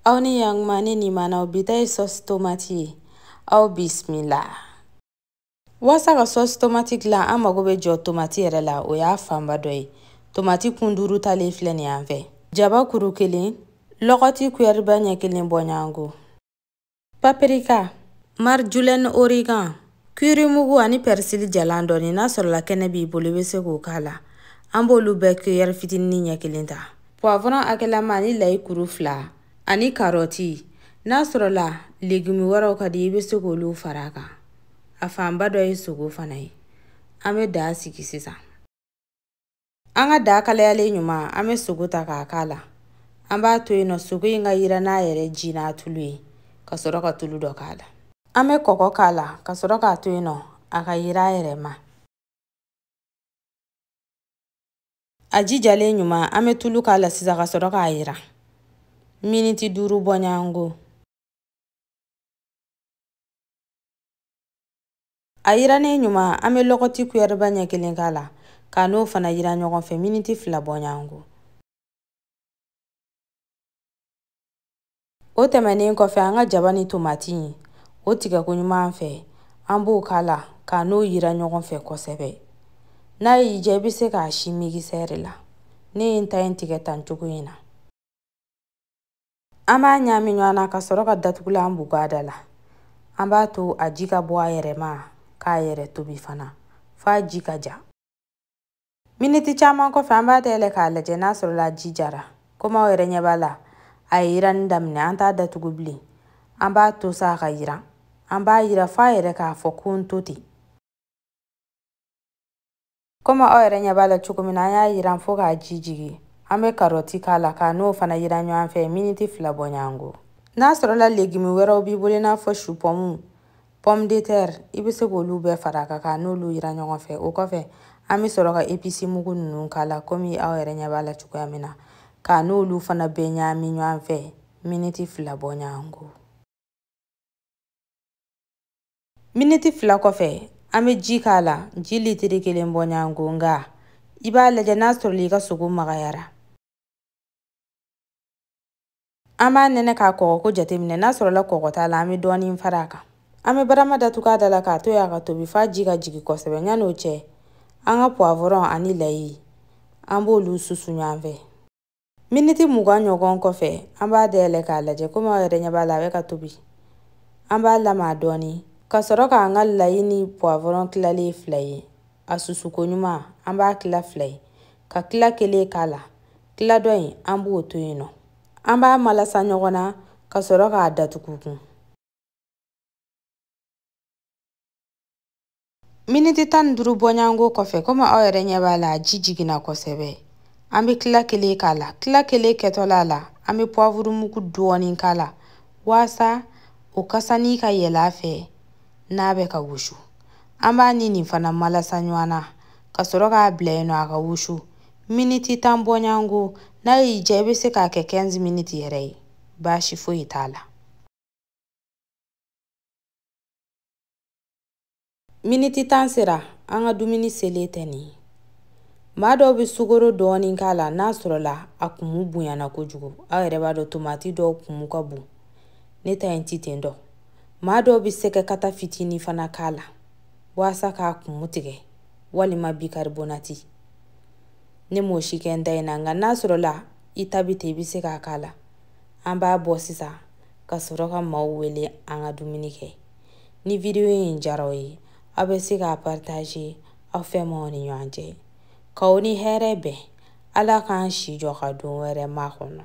aw ni yanguma ne ni manaw bi ta ye sɔsi tomati ye aw bisimila waasa ka sɔsi tomati dilan an mago bɛ jɔ tomati yɛrɛ la o y'a fanba dɔ ye tomati kun duuru talen filɛ nin yan fɛ jaba kuru kelen lɔgɔti kuyɛriba ɲɛ kelen bɔɲɔgɔnko papirika marjolaine origan kirimugu ani pɛrisili jalan dɔɔni n'a sɔrɔla kɛnɛ b'i bolo i bɛ se k'o k'a la an b'olu bɛɛ kuyɛri fitinin ɲɛ kelen ta puwavɔrɔn hakɛlama ani layi kuru fila ani karɔti n'a sɔrɔla legimi wɛrɛw ka di i bɛ se k'olu fara a kan a fanba dɔ ye sogo fana ye an bɛ daa sigi sisan An ka daa kalayalen ɲuman an bɛ sogo ta k'a k'a la an b'a to yen nɔ sogo in ka yira n'a yɛrɛ ji n'a tulu ye ka sɔrɔ ka tulu dɔ k'a la an bɛ kɔgɔ k'a la ka sɔrɔ k'a to yen nɔ a ka yira a yɛrɛ ma a ji jalen ɲuman an bɛ tulu k'a la sisan ka sɔrɔ k'a yira miniti duuru bɔɲɔgɔnko a yirannen ɲuman an bɛ lɔgɔti kuyɛriba ɲɛ kelen k'a la k'a n'o fana yira ɲɔgɔn fɛ miniti fila bɔɲɔgɔnko o tɛmɛnen kɔfɛ an ka jaba ni tomati o tigɛko ɲuman fɛ an b'o k'a la k'a n'o yira ɲɔgɔn fɛ kosɛbɛ n'a y'i diya i bɛ se k'a si migisɛri la ne ye n ta in tigɛ tan cogo in na An b'a ɲaami ɲɔgɔn na ka sɔrɔ ka datugulan bugu a da la. An b'a to a ji ka bɔ a yɛrɛ ma k'a yɛrɛ tobi fana f'a ji ka ja. Miniti caman kɔfɛ an b'a dayɛlɛ k'a lajɛ n'a sɔrɔla ji jara. Komi aw yɛrɛ ɲɛ b'a la a ye yiranni daminɛ an t'a datugu bilen. An b'a to sa a ka yiran. An b'a yira f'a yɛrɛ k'a fɔ ko n to ten. komi aw yɛrɛ ɲɛ b'a la cogo min na an y'a yiran fo k'a ji jigin an bɛ karɔti k'a la k'a n'o fana yiran ɲɔgɔn fɛ miniti fila bɔ ɲɔgɔn ko n'a sɔrɔla legimi wɛrɛw b'i bolo i n'a fɔ supɔmu pomme de terre i bɛ se k'olu bɛɛ fara a kan k'a n'olu yira ɲɔgɔn fɛ o kɔfɛ an bɛ sɔrɔ ka episi mugu ninnu k'a la komi aw yɛrɛ ɲɛ b'a la cogoya min na k'a n'olu fana bɛɛ ɲagami ɲɔgɔn fɛ miniti fila bɔ ɲɔgɔn ko miniti fila kɔfɛ an bɛ ji k'a la ji litiri kelen bɔɲanko nka i b'a lajɛ n'a sɔrɔla i ka sogo magayara an b'a nɛnɛ k'a kɔgɔko jateminɛ n'a sɔrɔla kɔgɔ t'a la an bɛ dɔɔnin fara a kan an bɛ barama datugu a da la k'a to yen a ka tobi f'a ji ka jigin kosɛbɛ yanni o cɛ an ka puwavɔrɔn ani layi an b'olu susu ɲɔgɔn fɛ miniti mugan ɲɔgɔn kɔfɛ an b'a dayɛlɛ k'a lajɛ komi aw yɛrɛ ɲɛ b'a la a bɛ ka tobi an b'a lama dɔɔni ka sɔrɔ k'an ka layi ni puwavɔrɔn tilalen ye fila ye a susuko ɲuman an b'a tila fila ye ka tila kelen k'a la tila dɔ in an b'o to yen nɔ an b'a malasa ɲɔgɔn na ka sɔrɔ k'a datugu kun miniti tan ni duuru bɔɲango kɔfɛ komi aw yɛrɛ ɲɛ b'a la a ji jiginna kosɛbɛ an bɛ tila kelen k'a la tila kelen kɛtɔla a la an bɛ pwavuru mugu dɔɔnin k'a la waasa o kasani ka yɛlɛ a fɛ n'a bɛ ka wusu an b'a ni nin fana malasa ɲɔgɔn na ka sɔrɔ k'a bila yen nɔ a ka wusu miniti tan bɔɲango n'a y'i diya i bɛ se k'a kɛ 15 minutes yɛrɛ ye baasi foyi t'a la Miniti tan sera an ka dumuni selen tɛ nin ye maa dɔw bɛ sukaro dɔɔnin k'a la n'a sɔrɔla a kumu bonyana kojugu aw yɛrɛ b'a dɔn tomati dɔw kumu ka bon ne ta in ti ten dɔ maa dɔw bɛ sɛgɛ kata fitinin fana k'a la waasa k'a kumu tigɛ walima bikaribonati ne m'o si kɛ n ta in na nka n'a sɔrɔla i ta bɛ ten i bɛ se k'a k'a la an b'a bɔ sisan ka sɔrɔ ka maaw wele an ka dumuni kɛ ni video in diyara aw ye aw bɛ se k'a partager aw fɛmaaw ni ɲɔgɔn cɛ k'aw ni hɛrɛ bɛn ala k'an si jɔ ka don wɛrɛ makɔnɔ